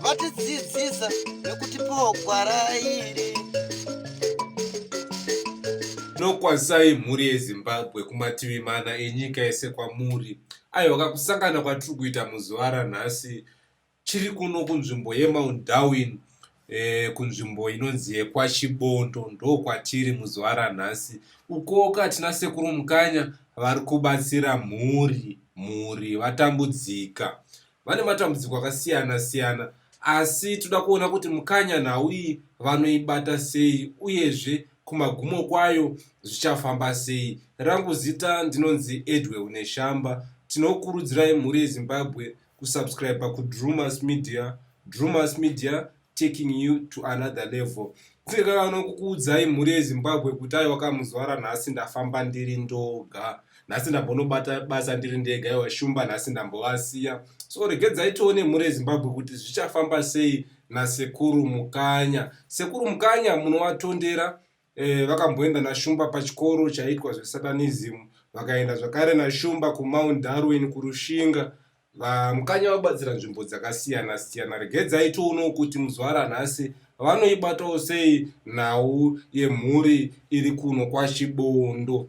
vatidzidzisa nekutipawo gwara iri nokwazai mhuri yezimbabwe kumativi mana enyika yese kwamuri aiwaka kusangana kwatiri kuita muzuva ranhasi chiri kuno kunzvimbo yemount darwin eh, kunzvimbo inonzi yekwachibondo ndokwatiri muzuva ranhasi ukoka tina sekuru mukanya vari kubatsira mhuri mhuri vatambudzika vane matambudziko akasiyana siyana asi toda kuona kuti mukanya nhau iyi vanoibata sei uyezve kumagumo kwayo zvichafamba sei rangu zita ndinonzi edwell neshamba tinokurudzirai mhuri yezimbabwe kusubscribe kudrumas media drumas media taking you to another level kunge kakana kukuudzai mhuri yezimbabwe kuti aiwa kamuzwara nhasi ndafamba ndiri ndoga nhasi ndambonobata basa ndiri ndega iwa shumba nhasi ndambovasiya so regedzai tione mhuri yezimbabwe kuti zvichafamba sei nasekuru mukanya sekuru mukanya munovatondera Eh, vakamboenda naShumba pachikoro chaiitwa zveSatanism, vakaenda zvakare naShumba kuMount Darwin kuRushinga. VaMukanya vabatsira nzvimbo dzakasiyana siyana. Regedzai tioonewo kuti muzvara nhasi vanoibatawo sei nhau yemhuri iri kuno kwaChibondo.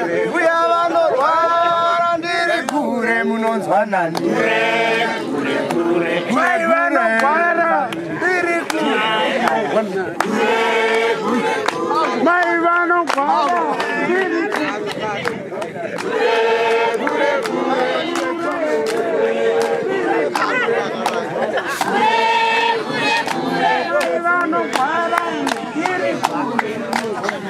Mbuya vanorwara ndiri kure munonzwa nani. Mai vanorwara ndiri kure. Mai vanorwara ndiri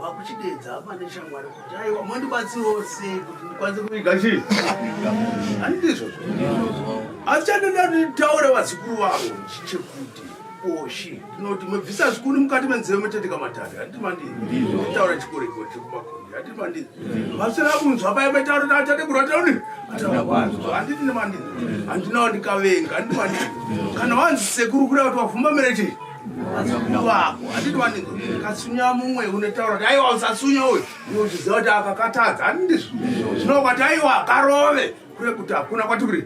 wakuchidedza apa neshamwari kuti aiwa mondibatsirawo sei kuti ndikwanise kuviga chii handizvozvo asi chandinoda nditaure vazukuru vavo chekuti oshi ndinoti mabvisa zvikuni mukati menzeve motendeka matari handiti manditaura chikoreko chekumakondi handiti mandii vasina kunzwa paye metauro taachade kurwatauri handiti nemandii handinawo ndikavenga handiti mandii kana wanzi sekuru kuda kuti wavhumamira chii wako handiti waniko katsunya mumwe unotaura kuti aiwa usatsunya uyu iwe uchiziva kuti akakatadza handizvo zvinova kuti aiwa akarove kure kuti hakuna kwati kuri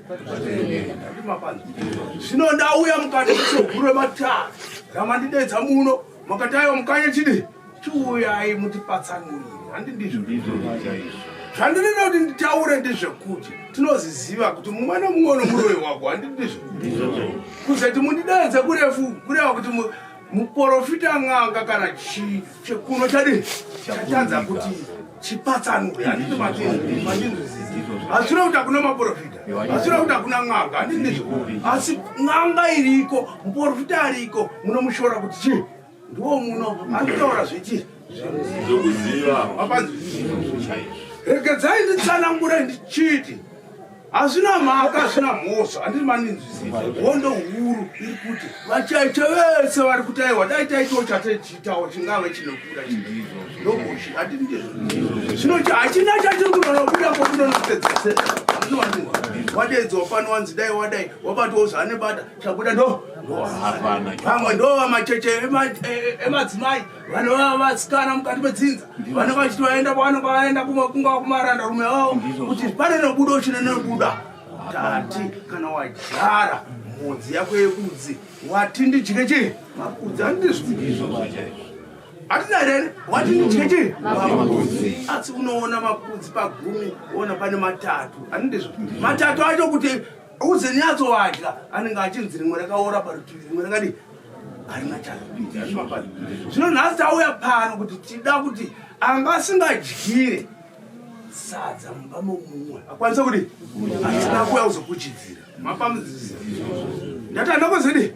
andimapanza zvino ndauya mukati mesogurwe mataa ramandidedza muno makati aiwa mukanye chidii Chiuyai mutipatsanurire, handi ndizvo ndizvo chaizvo zvandinoda kuti nditaure ndezvekuti tinozviziva kuti mumwe nomumwe unomuroyi wako handi ndizvo kuzoti mundidanza kurefu kureva kuti muporofita n'anga kana chii chekuno chadii chatanza kuti chipatsanure handiti machinzwisisa hazvina kuti hakuna maporofita hazvina kuti hakuna n'anga handiti ndizvo asi n'anga iriko muporofita ariko munomushora kuti chii ndiwo muno anotaura zviti zvokuziva regedzai nditsanangure ndichiti hazvina mhaka hazvina mhosva handiri maninzwisisa hondo huru iri kuti vachaicha vese vari kutaiwa dai taitiwo chatechitawo chingave chinokuda ndokuchi handiri ndizvo zvino hachina chatiri kunonokuda kokunonopedzese wadedzwa pano wanzi dai wadai wabatiwo zvaanebata chabuda ndo vamwe ndo vamacheche emadzimai vanova vasikana mukati medzinza vanenge vachiti vaenda kwavanenge vaenda kumakungava kumaranda rume vavo kuti pane nobudo chine nobuda tati kana wajara mhodzi yako yekudzi wati ndidye chii makudzi andizviizvo hatina here wati ndidye chii makudzi asi unoona makudzi pagumi ona pane matatu andizvo matatu acho kuti Uze nyatso wadya anenge achinzi rimwe rakaora parutivi rimwe rakadii harina chazvimapano zvino nhasi tauya pano kuti tida kuti anga asingadyire sadza mumba momumwe akwanisa kuti atina kuya kuzokuchidzira mapamudzisa ndati andakozidi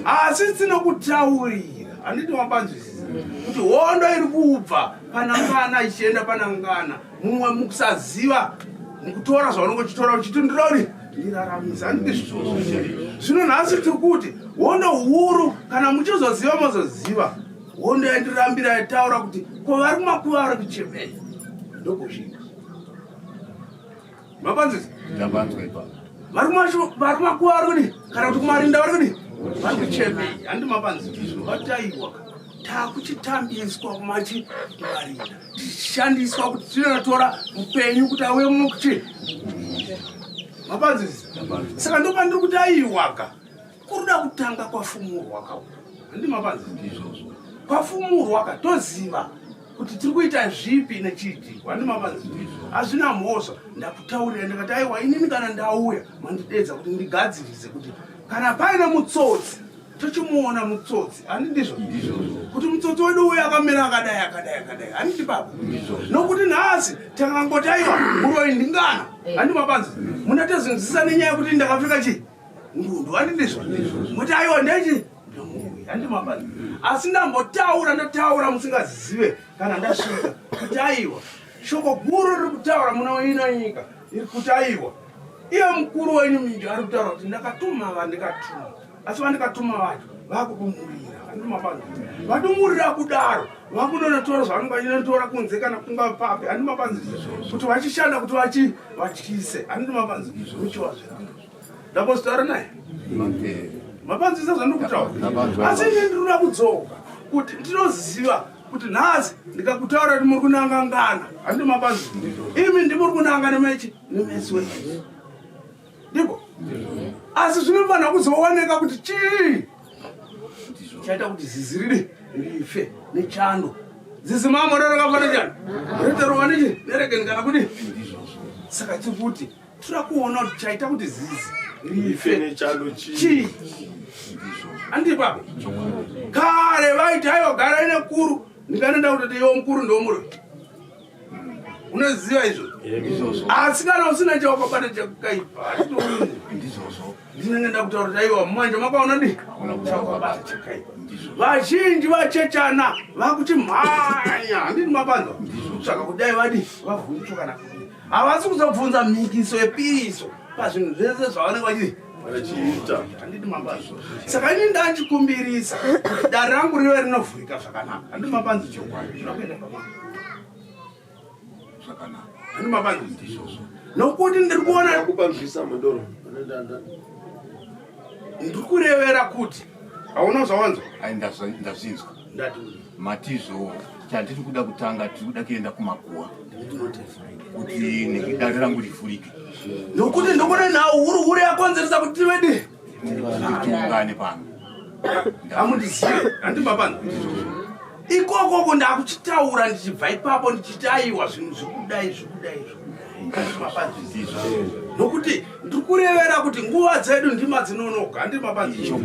asi tinokutaurira handiti mapanzwisisa kuti hondo iri kubva panangana ichienda panangana mumwe mukusaziva mukutora zvaunenge uchitora uchiti ndinori ndiraramisa andizvoo zvino nhasi tiri kuti hondo huru kana muchizoziva mozoziva hondo yandirambira yataura kuti ko vari kumakuva vari kuchemei ndokuzvii mapanzisa ndapanzwa ipa vari macho vari makuwa vari kudi kana kuti kumarinda vari kudi vari kuchemei handi mapanzisa izvo vataiwa takuchitambiswa kumachi marinda tichishandiswa kuti tinotora upenyu kuti auye mukuchi mapanzisa saka ndopandiri kuti aiwaka Kuruda kutanga kwafumurwa ka. Handima panzi ndizvozvo. Kwafumurwa ka toziva kuti tiri kuita zvipi nechiti wandima panzi ndizvo. Hazvina mhosva ndakutaurira ndikati aiwa inini kana ndauya mandidedza kuti ndigadzirise kuti kana paine mutsotsi tochimuona mutsotsi handi ndizvo kuti mutsotsi wedu uyo akamira akadai akadai akadai handiti baba nokuti nhasi takangotaiwa uroi ndingana eh. handi mabanzi muna tezvinzisa nenyaya yekuti ndakapfeka chii ndwanindizvo muti aiwa ndechi handimabani asi ndambotaura ndotaura musingazive kana ndasvika kuti aiwa shoko guru riri kutaura muna waina nyika iri kuti aiwa iye mukuru wenyu minji ari kutaura kuti ndakatuma vandikatuma asi vandikatuma vacho vakudumurira handimabani vadumurira kudaro vakunonotora zvavanenge vachinotora kunze kana kunga papi handimabanzi kuti vachishanda kuti vachi vatyise handimabanzi uchiwazvira ndambozotaura naye mapanzisa zvandikutaura asi ine ndinoda kudzoka kuti ndinoziva kuti nhasi ndikakutaura kuti muri kunangangana handi mapanzi imi ndimuri kunanga nemechi nemesi wese ndiko asi zvinofanira kuzooneka kuti chii chaita kuti zizi riri rife nechando zizi mamorero kafanira chando riterova nechi nerekeni kana kuti saka tikuti tira kuona kuti chaita kuti zizi rife nechando chii andipa kare vaiti aiwa gara ine kuru ndikanoenda kuti iwo mukuru ndomuri unoziva izvo asi kana usina chawakabata chakaipa ndinenge ndakutaurira iwa manje makaona di vazhinji vachechana vakuti mhanya handini mapanza saka kudai vadi vavhundutsokana havasi kuzobvunza mhikiso yepiriso pazvinhu zvese zvavanenge vachii achiita handiti mapanzi saka ini ndachikumbirisa dare rangu rive rinovhurika zvakanaka handiti mapanzi chokwadi zvinokuenda pamana nokuti ndiri kuona ndiri kurevera kuti hauna zvawanzwa ndazvinzwa matizvo chandiri kuda kutanga tiri kuda kuenda kumakuwa kuti nekudare rangu rivhurike nokuti ndikuona nhau huru huru yakonzeresa kuti tivedi tiungane pano hamundizive handibabana ikokoko ndakuchitaura ndichibva ipapo ndichiti aiwa zvinhu zvikudai zvikudai zvikudaiapanzvizizvo nokuti ndiri kurevera kuti nguva dzedu ndima dzinonoga ndimapazizvo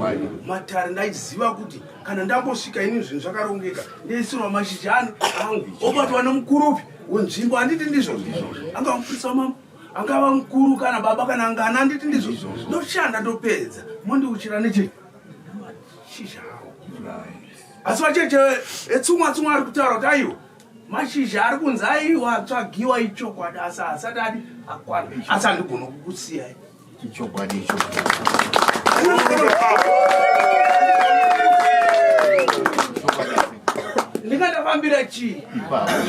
matare ndaiziva kuti kana ndambosvika ini zvinhu zvakarongeka ndaisirwa mashizha ani angu obatwa nemukurupi wenzvimbo handiti ndizvo zvizvo anga mufurisa wamambo angava mukuru kana baba kana ngana handiti ndizvo ndoshanda ndopedza mondiuchira neche mashizha awo asi vacheche etsumwa tsumwa ari kutaura kuti aiwa mashizha ari kunzi aiwa atsvagiwa ichokwadi asi asati adi akwana asi andigona kukusiyai ichokwadi ichokwadi ndingatafambira chii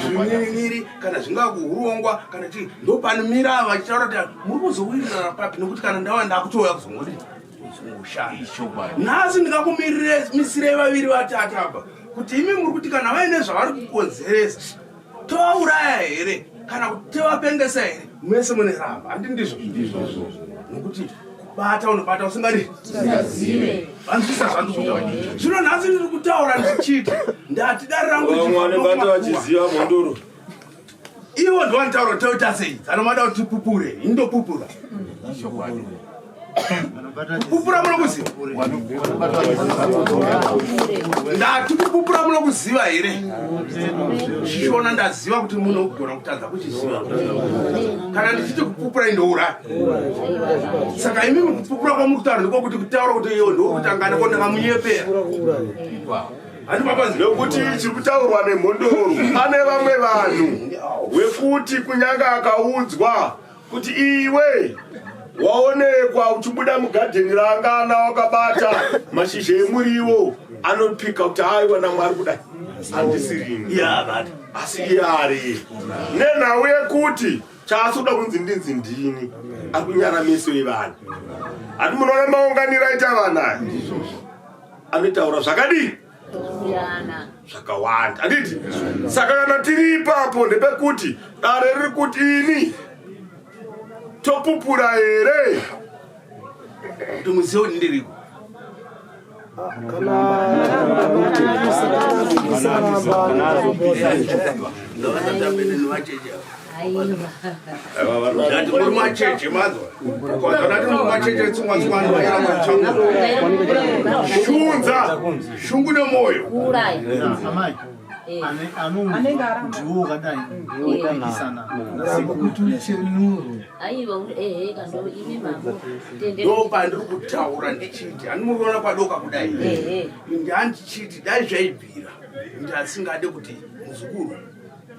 zvinyiriri kana zvingakuhurongwa kana chii ndopanimira vachitaura kuti muri kuzowirirana papi nekuti kana ndava ndakutouya kuzongodi nhasi ndingakumirirei misirei vaviri vatatu apa kuti imi muri kuti kana vaine zvavari kukonzeresa tovauraya here kana kuti tovapengesa here mese mune ramba handi ndizvo nokuti kubata unobata usingari vanzwisa zvandizoa zvino nhasi ndiri kutaura ndichiti ndati dare rangu vachiziva mhondoro Ivo ndovanotaura kuti toita sei? Kana mada kuti tipupure, indopupura. Kupupura munokuziva? Ndati kupupura munokuziva here? Shona ndaziva kuti munogona kutadza kuchiziva. Kana ndichiti kupupura indoura. Saka imi kupupura kwamuri kutaura ndiko kuti kutaura kuti iyo ndokutangana ko ndakamunyepera. nokuti chiri kutaurwa nemhondoro pane vamwe vanhu wekuti kunyanga akaudzwa kuti iwe waonekwa uchibuda mugadheni raangana wakabata mashizha emuriwo anopika kuti aiwa namwari kudai andisirini asi iye ari nenhau yekuti chaasi kuda kunzi ndinzi ndini akunyara meso evanhu hati munoona maunganiro aita vanaya anotaura zvakadii zvakawanda handiti saka kana tiri ipapo ndepekuti dare riri kuti ini topupura here kuti muzivo ndiriko kana shunza shungu nemoyo anenge ndiwo wakadai oitisana ndopandiri kutaura ndichiti andimuona kwadoka kudai ndiandichiti dai zvaibvira ndiasingade kuti muzukuru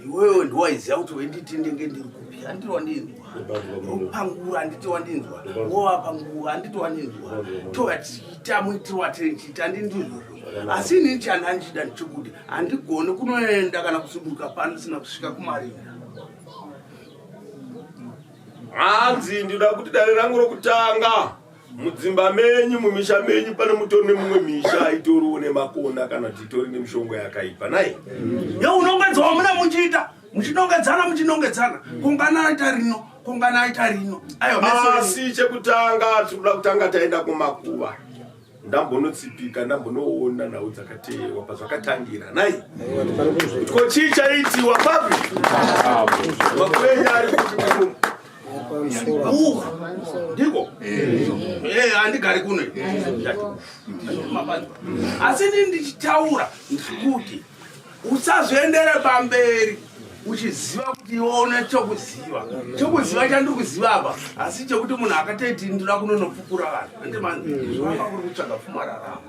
iwewe ndiwaiziva kuti wenditi ndenge ndiri kupi handiti wandinzwa opangura handiti wandinzwa wowapangura handiti wandinzwa tova tichiita muitiro watinchiita ndindizvo asi inini chani andichida ndichikuti handigoni kunoenda kana kusuduka pano sina kusvika kumarinda hanzi ndinoda kuti dare rangu rokutanga mudzimba menyu mumisha menyu pane mutori nemumwe misha aitoriwo nemakona kana kuti itori nemishongo yakaipa nai yo unongedzwa muna muchiita muchinongedzana muchinongedzana kungana aita rino kungana aita rino asi chekutanga tinoda kutanga taenda kumakuva ndambonotsipika ndambonoona nhau dzakateerwa pazvakatangira nai ko chii chaitiwa papi makuenya ari kuti ndiko eh, handigari kuno asi ndii ndichitaura ndikuti usazoendere pamberi uchiziva kuti ione chokuziva chokuziva chandiri kuziva apa asi chekuti munhu akatoiti ndinoda kunonopfukura vanhu andimani zvaa kuri kutsvaga pfumararamo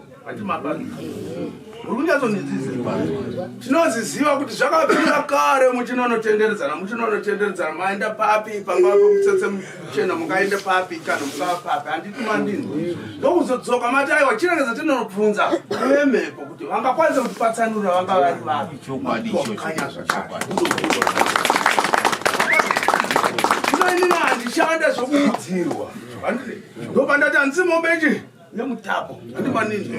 tinoziziva kuti zvakabvira kare muchinonotenderedzana muchinonotenderedzana maenda papi pangava pamutsetse muchena mungaende papi kana mungava papi handiti mandini ndokuzodzoka mati aiwa chiregedza tinonobvunza vemhepo kuti vangakwanisa kuti patsanura vanga vari vapi kanya zvakare inoinini handishanda zvokuudzirwa ndopandati handisi mombechi nemutapo kuti manini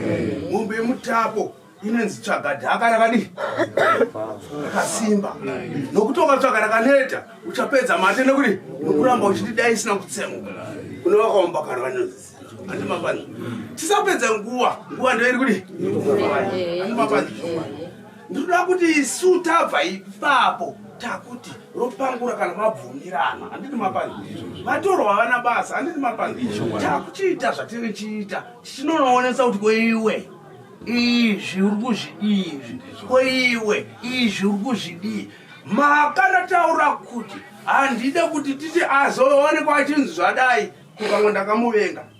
mombe yemutapo inenzi tsvaga dhaka rakadii rakasimba nokuti ukatsvaga rakaneta uchapedza mate nekuti nokuramba uchiti dai isina kutsemuka kune vakaomba kana vanonzi andimapani tisapedze nguva nguva ndoiri kuti andimapani ndinoda kuti isu tabva ipapo takuti ropangura kana mabvumirana handiti mapangisho vatorwa vavana basa handiti mapangisho takuchiita zvatiri chiita tichinonoonesa kuti koiwe izvi uri kuzvidii izvi koiwe izvi uri kuzvidii makanataura kuti handide kuti titi azoonekwa achinzi zvadai kukamwe ndakamuvenga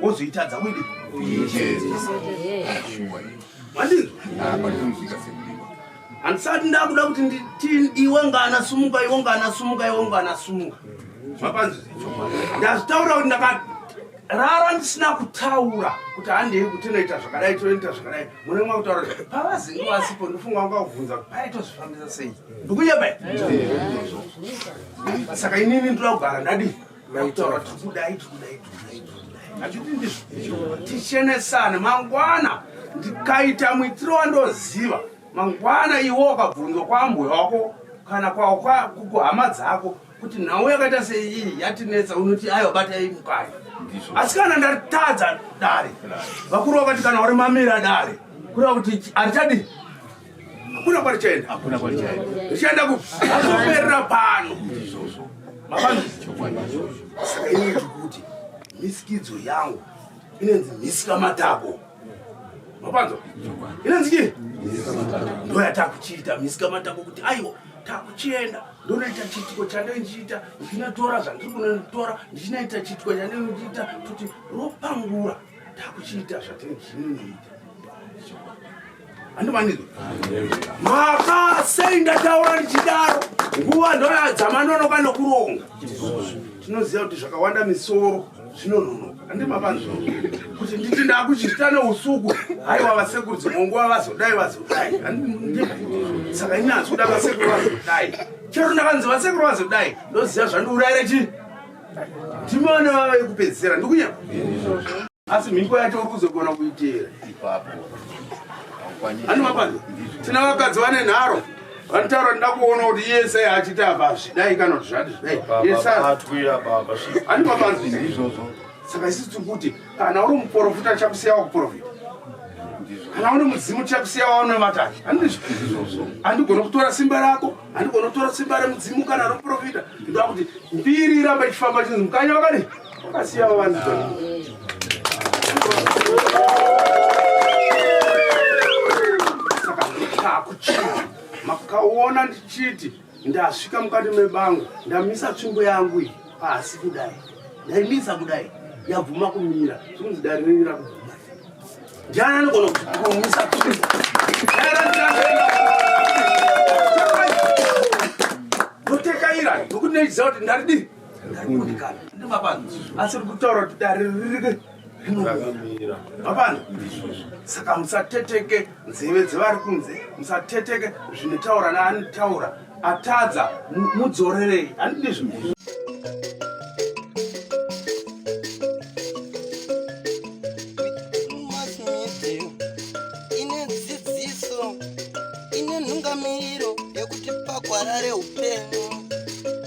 wozoitadza wini handisati ndakuda kuti nditin iwe ngana sumuka iwe ngana sumuka iwe ngana sumuka mapanzi ndazvitaura kuti ndakarara ndisina kutaura kuti handei kuti inoita zvakadai tonoita zvakadai mune mwa kutaura pavazinge vasipo ndofunga vanga kuvhunza kuti pai tozvifambisa sei ndikuyebai saka inini ndoda kugara ndadii Maitaura kuti kudai kudai kudai. Achiti ndizvo. Tichenesane mangwana ndikaita muitiro wandoziva. Mangwana iwe wakabvunzwa kwambuya wako kana kwa kwa kuhama dzako kuti nhau yakaita seiyi yatinetsa unoti ayo bata imukaya. Asi kana ndatadza dare. Vakuru vakati kana uri mamira dare. Kura kuti arichadi hakuna kwarichaenda hakuna kwarichaenda richaenda kupi azoperera pano izvozvo mavanu saka ini ndikuti misikidzo yangu inenzi misika matako mapanzwa inenzi chii ndo yatakuchiita misika matako kuti aiwa takuchienda ndonoita chiitiko chandai ndichiita ndichinatora zvandiri kunotora ndichinaita chiitiko chandai ndichiita kuti ropangura takuchiita zvatiri zvininoita andimaniko maka sei ndataura ndichidaro nguva ndoyadzamanonoka nokuronga tinoziva kuti zvakawanda misoro zvinononoka andimapanzvo kuti nditi ndakuchita neusuku haiwa vasekuru dzimwe nguva vazodai vazodai saka inyazi kuda vasekuru vazodai chero ndakanzi vasekuru vazodai ndoziva zvandiuraira chii ndimone vava vekupedzisira ndikunyama asi mhiko yacho uri kuzogona kuitera ipapo animapani tina vakadzi vane nharo vanotaura nda kuona kuti iye sei achiti apa zvidai kana kuti zvati zvidai animapani saka isi tiri kuti kana uri muprofita chakusiya wakuprofita kana uri mudzimu chakusiya waunevatachi andigona kutora simba rako andigona kutora simba remudzimu kana remuprofita ndoda kuti mbiri ramba ichifamba chinzi mukanya wakadii makaona ndichiti ndasvika mukati mebango ndamisa tsvimbo yangu iyi pasi kudai ndaimisa kudai yabvuma kumira zvikunzi dare renyu rakubvuma ndiani anogona kumisa tsvimbo ndotekairai ndokuti neiziva kuti ndaridii asi uri kutaura kuti dare ririke apana saka musateteke nzeve dzevari kunze musateteke zvinotaura naanitaura atadza mudzorerei handidi zvinhu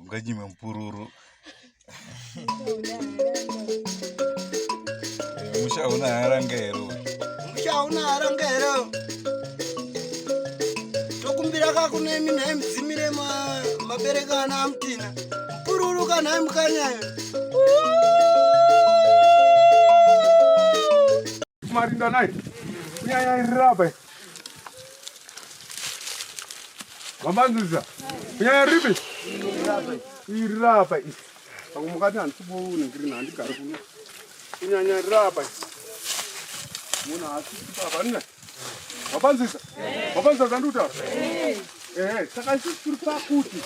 unganyime mupururu musha una haranga here musha una haranga here tokumbira kakunemi nhai mudzimire mabereka ana amutina mupururu kanhai mukanyayo marinda nai nyaya irirapai mamanzisa kunyaya ripi iri rapa ii pamwe mukati handisibouningirina handigari kuno kunyanya rapa munhu haasipapa nina mapanzisa mapanzisa zandikutaura ehe saka isusu tiri pakuti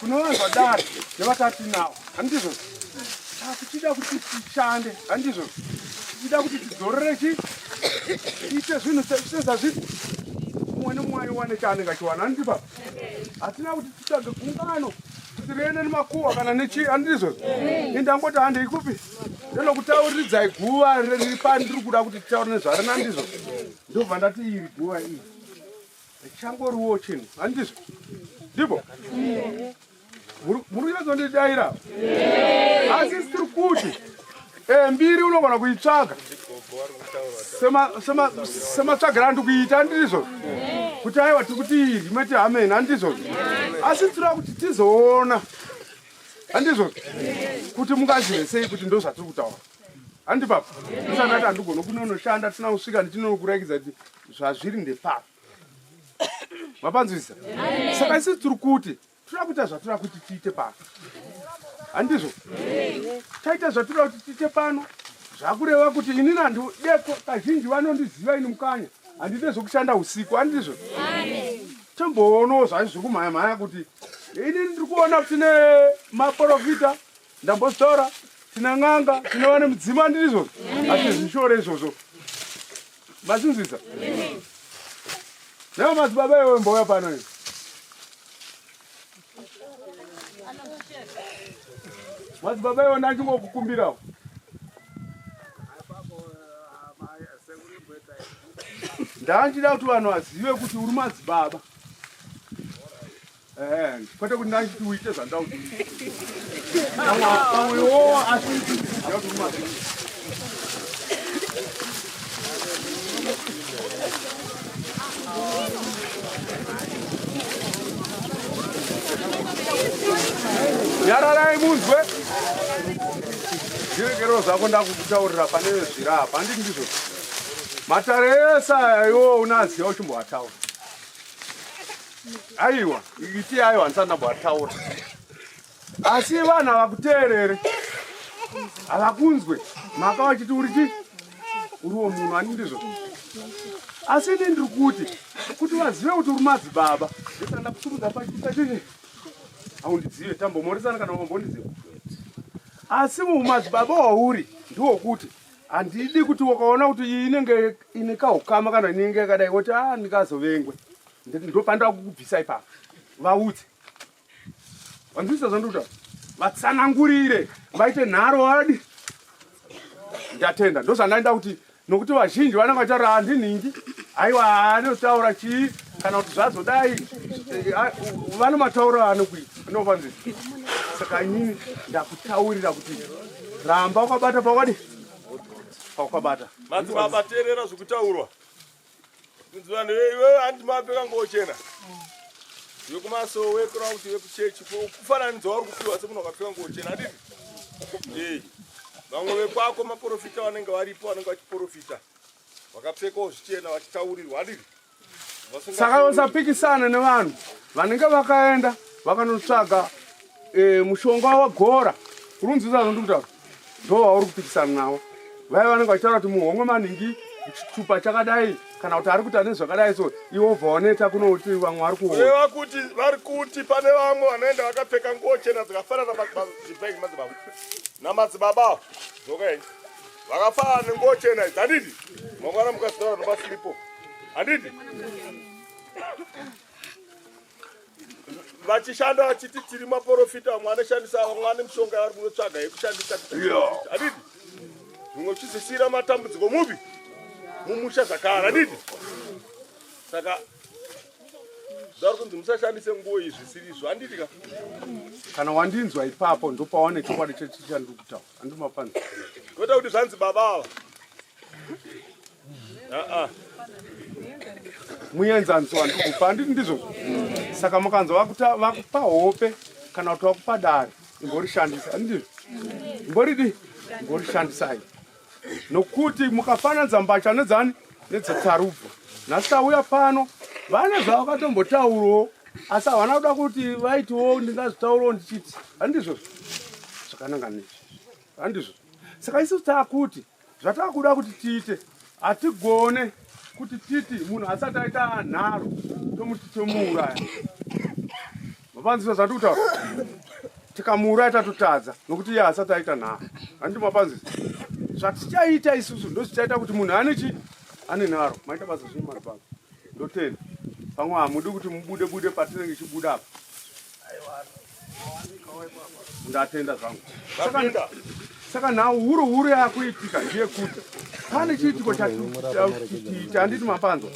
kune vanhu vadari nevatatinawo handizvo saka tichida kuti tishande handizvo tichida kuti tidzorere chi tiite zvinhu sezvazviti umwe nemumwe aiwane chaanenge achiwana handiti baba hatina kuti titsvage gungano kuti riende nemakuwa kana nechii handizvo indangoti handei kupi ndinokutauridzai guva riri pandiri kuda kuti titaure nezvarina ndizvo ndobva ndati iri guva iri Changoriwo chinhu handizvo ndipo muri kunyatsondidaira asi tiri kuti eh, mbiri unogona kuitsvaga sematsvagira andi kuita handizvo kuti aiwa tiri kuti iri mati hameni handizvo asi tinoda kuti tizoona handizvo kuti mungazivesei kuti ndozvatiri kutaura handi baba usanati handigona kunonoshanda tisina kusvika ndichinonokurakidza kuti zvazviri ndepapa mapanzwisa saka isisi tiri kuti tinoda kuita zvatinoda kuti tiite pano handizvo taita zvatinoda kuti tiite pano zvakureva kuti inini handu deko kazhinji vanondiziva ini mukanya handide zvekushanda usiku handizvo tomboonawo zvaizvi zvekumhaya mhaya kuti inini ndiri kuona kuti ne maporofita ndambotaura tina n'anga tina vane mudzimu andiri izvozvo hatizvishore izvozvo masinzwisa nao madzibaba iwe mbouya pano iwe madzibaba iwe ndachingokukumbirawo ndanjida kuti vanhu vazive kuti uri madzibaba Eh, kwete kuti ndanditi uite zvandauti pamwewo asi nyararai munzwe zviregerero zvako ndakukutaurira pane zvira hapa handiti ndizvo matare ese aya iwo unaziva uchimboataura aiwa iti ayo handisana bwataura asi vanhu havakuteerere havakunzwe maka vachiti uri chii uriwo munhu ani ndizvo asi ini ndiri kuti kuti vazive kuti uri madzibaba ndisanda kutumudza pachii haundizive tambomoresana kana wambondiziva asi mumadzibaba wauri ndiwo kuti handidi kuti wakaona kuti iyi inenge ine kahukama kana inenge yakadai woti a ah, ndikazovengwe ndopanda kukubvisa ipapa vaudze vanzwisa zvandikuta vatsanangurire vaite nharo wadi ndatenda ndozvandaenda kuti nokuti vazhinji vanenge vachitaura handinhingi aiwa anotaura chii kana kuti zvazodai eh, ah, vane matauro aanokuita anopanzisa saka inini ndakutaurira kuti ramba wakabata pakwadi pakwabata madzibaba teerera zvekutaurwa kunzi vanhu iwe handi mapfeka ngochena vekumasowe kurava kuti vekuchechi kufananidza wari kupiwa semunhu wakapfeka ngochena adii ee vamwe vekwako maprofita vanenge varipo vanenge vachiprofita vakapfekawo zvichena vachitaurirwa adii saka usapikisana nevanhu vanenge vakaenda vakanotsvaga e, mushonga wagora kurunzisa zvondi kutaura ndo wauri kupikisana navo vaya vanenge vachitaura kuti muhomwe maningi chitupa chakadai kana kuti ari kuti ane zvakadai so iwo bva waneta kunoti vamwe vari kuoa kuti vari kuti pane vamwe vanoenda vakapfeka nguo chena dzakafanana namadzibaba namadzibaba dzokai Vakafaa nenguo chena idzi handiti? Mangwana mukazitaura nobasiripo handiti? vachishanda vachiti tiri maporofita vamwe anoshandisa vamwe vane mishonga yavari kunotsvaga yekushandisa adidi zvimwe uchizisiyira matambudziko mupi mumusha zvakare adidi saka zvauri kunzi musashandise nguo iyi zvisiri izvo andidi ka kana wandinzwa ipapo ndopawane chokwadi chechishandiri kutaura Toda kuti zvanzi baba ava. Ah ah. Muenzaniso wandikupa handiti ndizvo? Saka mukanzwa vakuta vakupa hope kana kuti vakupa dare imborishandisa handiti? Imboridi imborishandisai. Nokuti mukafananidza mbatya nedzani nedzetsarubvu nhasi tauya pano vane zvavakatombotaurawo asi havana kuda kuti vaitiwo ndingazvitaurawo ndichiti handizvo zvakananga nezvi handizvo saka isu taakuti zvataakuda kuti tiite hatigone kuti titi munhu asati aita nharo tomuti tomuuraya Mapanzisa zvandiri kutaura tikamuuraya tatotadza nokuti iye haasati aita nhaa handiti mapanzisa zvatichaita isusu ndozvichaita kuti munhu ane chi ane nharo maita basa zvii mari pano ndotenda pamwe hamudi kuti mubude bude patinenge ichibuda apa ndatenda zvangu saka nhau huru huru yakuitika ndeyekuti pane chiitiko chatiita handiti mapanzwa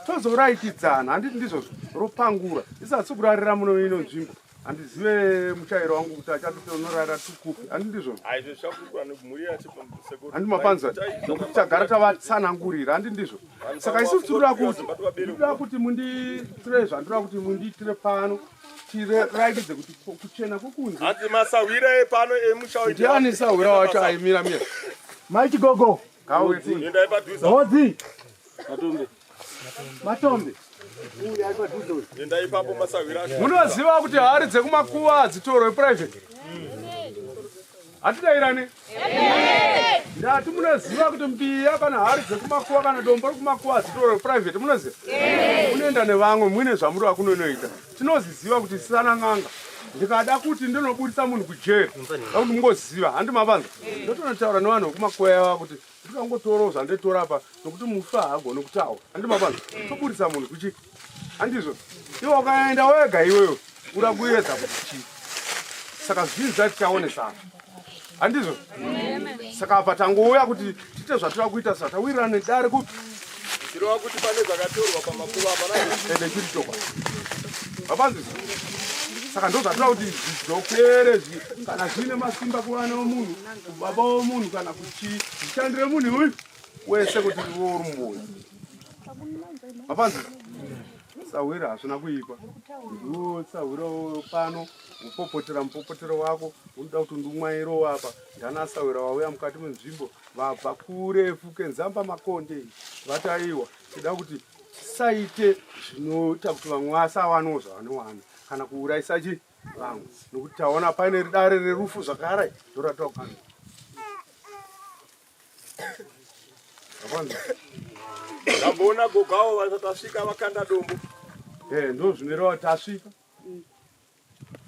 tozoraikidzana handiti ndizvo ropangura isatsi kurarira muno ino nzvimbo handizive muchairo wangu kuti achatotonorara tukupi handi ndizvo handi mapanzwa nokuti tagara tavatsanangurira handi ndizvo saka isusu tinoda kuti tinoda kuti mundiitire zvandiroda kuti mundiitire pano tiratidze kuti kuchena kukunzi hanzi masahwira epano emusha ndiani sahwira wacho aimira mira mai chigogo endai padhuze hodzi matombe matombe endai ipapo masahwira munoziva kuti hari dzekumakuva hadzitorwe private hatidairane ndati munoziva kuti mbiya kana hari dzekumakuwa kana dombo rekumakuwa hadzitori reprivate munoziva unoenda nevamwe muine zvamuri vakunonoita tinozviziva kuti tisana n'anga ndikada kuti ndinoburitsa munhu kujeri akuti mungoziva handi mavanza ndotonotaura nevanhu vekumakuwa yava kuti Ndikangotorawo zvanditora apa nokuti mufi haagoni kutaura. Andimabana, eh. toburitsa munhu kuchi. Andizvo. Iwe ukaenda wega iweyo ura kuedza kuti chii. Saka zvinhu zvatichaonesana. Andizvo. Saka apa tangouya kuti tiite zvatira kuita saka tawirira nedare kupi. Zvirova kuti pane zvakatorwa pamakuva apa na. Ende chiri chokwa. Vabanzizvo. saka ndozvatira kuti zvidokere kana zviine masimba kuvana womunhu kubaba womunhu kana kuti Chishandire munhu uyu wese kuti iwe uri mumboyi. Hapanzi sahwira hazvina kuipa. Ndiwo sahwira pano upopotera mupopotero wako unoda kuti ndumwairo apa ndana sahwira wauya mukati menzvimbo vabva kurefu kenzamba makonde vataiwa tida kuti tisaite zvinoita kuti vamwe vasawanawo zvavanowana kana kuurayisa chii vangu nokuti taona paine dare rerufu zvakare ndoratira kugara ndamboona gogawo vatasvika vakanda dombo eh, ndo zvinoreva tasvika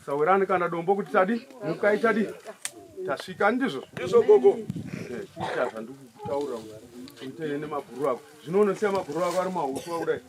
sawirani kana dombo kuti tadi mukai tadi tasvika ndizvo ndizvo gogo eh, kuita zvandikutaura kuitei nemaguru ako zvino unosiya maguru ako ari mahuswa kudai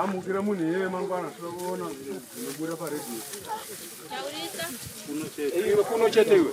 amukira munhu iyeye mangwana tinokuona unobuda paredio iwe kuno chete iwe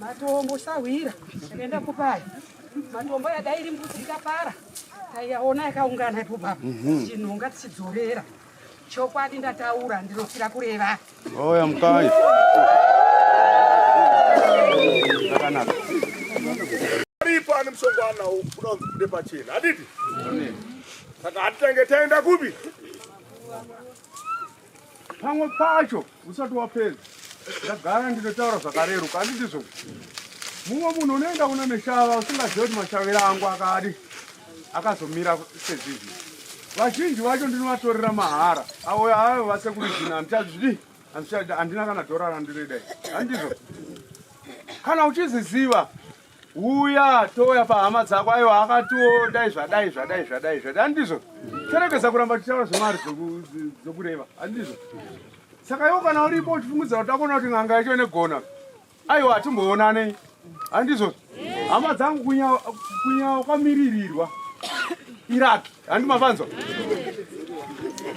matombo sahwira yakaenda kupaya matombo yadairi mbudzi ikapara taiyaona yakaungana ipo baba mhm. chinhonga tichidzorera Chokwadi ndataura ndinofira kureva. Oya mukai. Zvakanaka. Aripo ani musongwana unonzi kude pachena. Adidi? Saka hatitange taenda kupi? Pamwe pacho usati wapedza ndagara ndinotaura zvakareruka andi ndizvo mumwe munhu unoenda kuno neshava usingazive kuti mashavira angu akadi akazomira sezvizvi vazhinji vacho ndinovatorera mahara avo avo vasekuri zvino handichazvidi handina kana dhora randiridai handizvo kana uchiziziva uya touya pahama dzako ayo akatiwo dai zvadai zvadai zvadai zvadai handizvo terekesa kuramba tichitaura zvemari dzokureva handizvo saka iwo kana uripo uchifungudza kuti takuona kuti n'anga yacho inegona aiwa hatimboonanei handizvo hama dzangu kunyawa kwamiririrwa iraki handi mavanzwa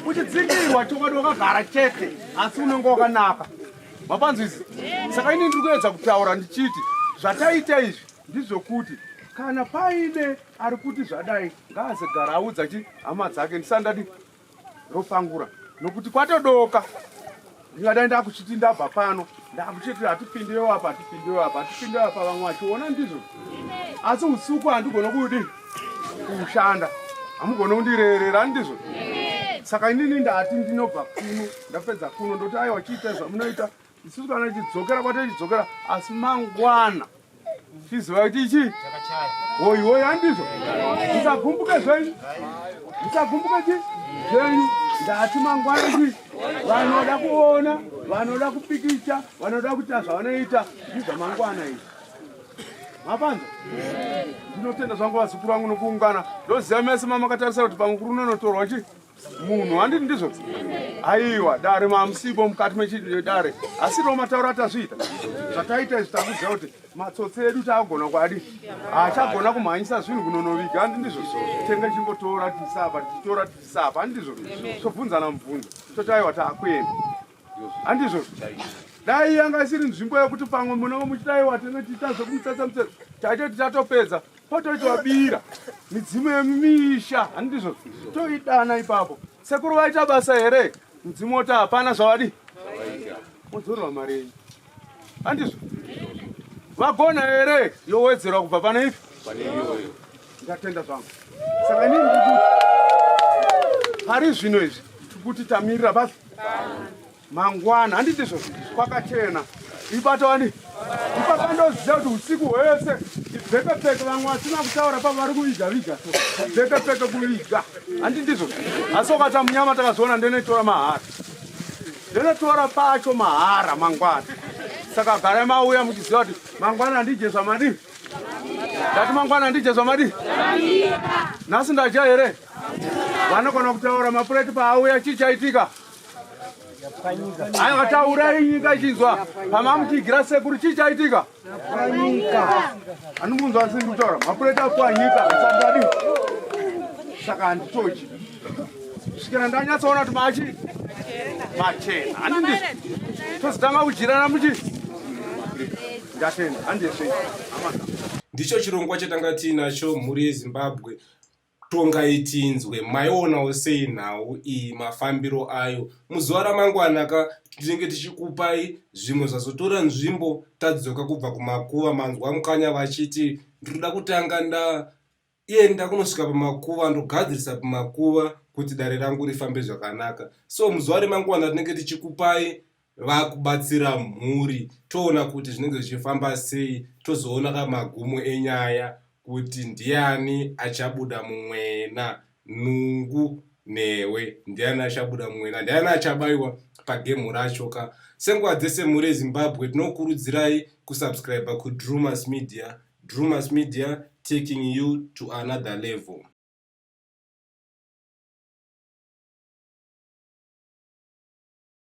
uchidzindirwa chokwadi wakagara chete asi unenge wakanaka mapanzwa izi saka ini ndiri kuedza kutaura ndichiti zvataita izvi ndizvokuti kana paine ari kuti zvadai ngaazegara audza chi hama dzake ndisandadi ropangura nokuti kwatodoka ndingadai ndakuchiti ndabva pano ndakuchiti hatipindiwo apa hatipindiwo apa hatipindiwo apa vamwe vachiona ndizvo asi usiku handigone kudi kushanda hamugone kundirerera ndizvo saka inini ndati ndinobva kuno ndapedza kuno ndoti aiwa chiita zvamunoita isusu kana tichidzokera kwatetidzokera asi mangwana Chiziva kuti ichi hoyi hoyi handizvo musagumbuke zvenyu musagumbuke chi zvenyu ndati mangwana chi vanoda kuona vanoda kupikicha vanoda kuita zvavanoita ndizva mangwana izvi mapanza ndinotenda zvangu vazukuru vangu nokuungana ndoziva mese mamakatarisa kuti pamukuru unonotorwa chii munhu handiti ndizvo aiwa dare mamusipo mukati mechidare asi ro matauro atazviita zvataita izvi takuziva kuti matsotsi edu taagona kwadi haachagona kumhanyisa zvinhu kunonoviga handi ndizvo tenge chimbotora tisapa tichitora tisapa handi ndizvo tobvunzana mubvunzo toti aiwa taakuenda handizvo dai yanga isiri nzvimbo yekuti pamwe munenge muchidaiwa tenge tiita zvekumutsatsa mutsatsa taite titatopedza pototi wabira midzimu yemisha handizvo toidana ipapo sekuru vaita basa here mudzimu woti hapana zvavadi mudzorwa mari yenyu handizvo vagona here yowedzerwa kubva pane ifi ndatenda zvangu saka inini ndikuti pari zvino izvi tikuti tamirira basi mangwana handiti izvo kwakachena ibata wani ipapa ndoziva kuti usiku hwese ibvekepeke vamwe vasina kutaura pa vari kuviga viga ibvekepeke kuviga handiti izvo asi ukata munyama takazoona ndeneitora mahara Ndonotora pacho mahara mangwana. Saka garai mauya muchiziva kuti mangwana ndije zvamadii? Ndati mangwana ndije zvamadii? Nhasi ndaja here? Vanogona kutaura mapureti paauya chii chaitika? Aya vataura nyika ichinzwa pamamuchigira sekuru chii chaitika? Kwanyika. Anomunzwa asi ndikutaura mapureta kwanyika asangadi. Saka handitochi. Kusvikira ndanyatsoona kuti machi machena. Handindi. Tozotanga kujirana muchi. Ndatenda handishe. Ndicho chirongwa chatanga tiinacho mhuri yeZimbabwe. Tongai tinzwe, maionawo sei nhau iyi mafambiro ayo? Muzuva ramangwana ka tinenge tichikupai zvimwe zvazotora nzvimbo tadzoka kubva kumakuva. Manzwa mukanya vachiti ndinoda kutanga ndaenda kunosvika pamakuva ndogadzirisa pamakuva kuti dare rangu rifambe zvakanaka. So muzuva remangwana tinenge tichikupai vakubatsira mhuri toona kuti zvinenge zvichifamba sei tozoona ka magumo enyaya kuti ndiani achabuda mumwena nungu newe ndiani achabuda mumwena ndiani achabayiwa pagemu racho ka senguva dzese mhuri yezimbabwe tinokurudzirai kusubscribe kudrumas media drumas media taking you to another level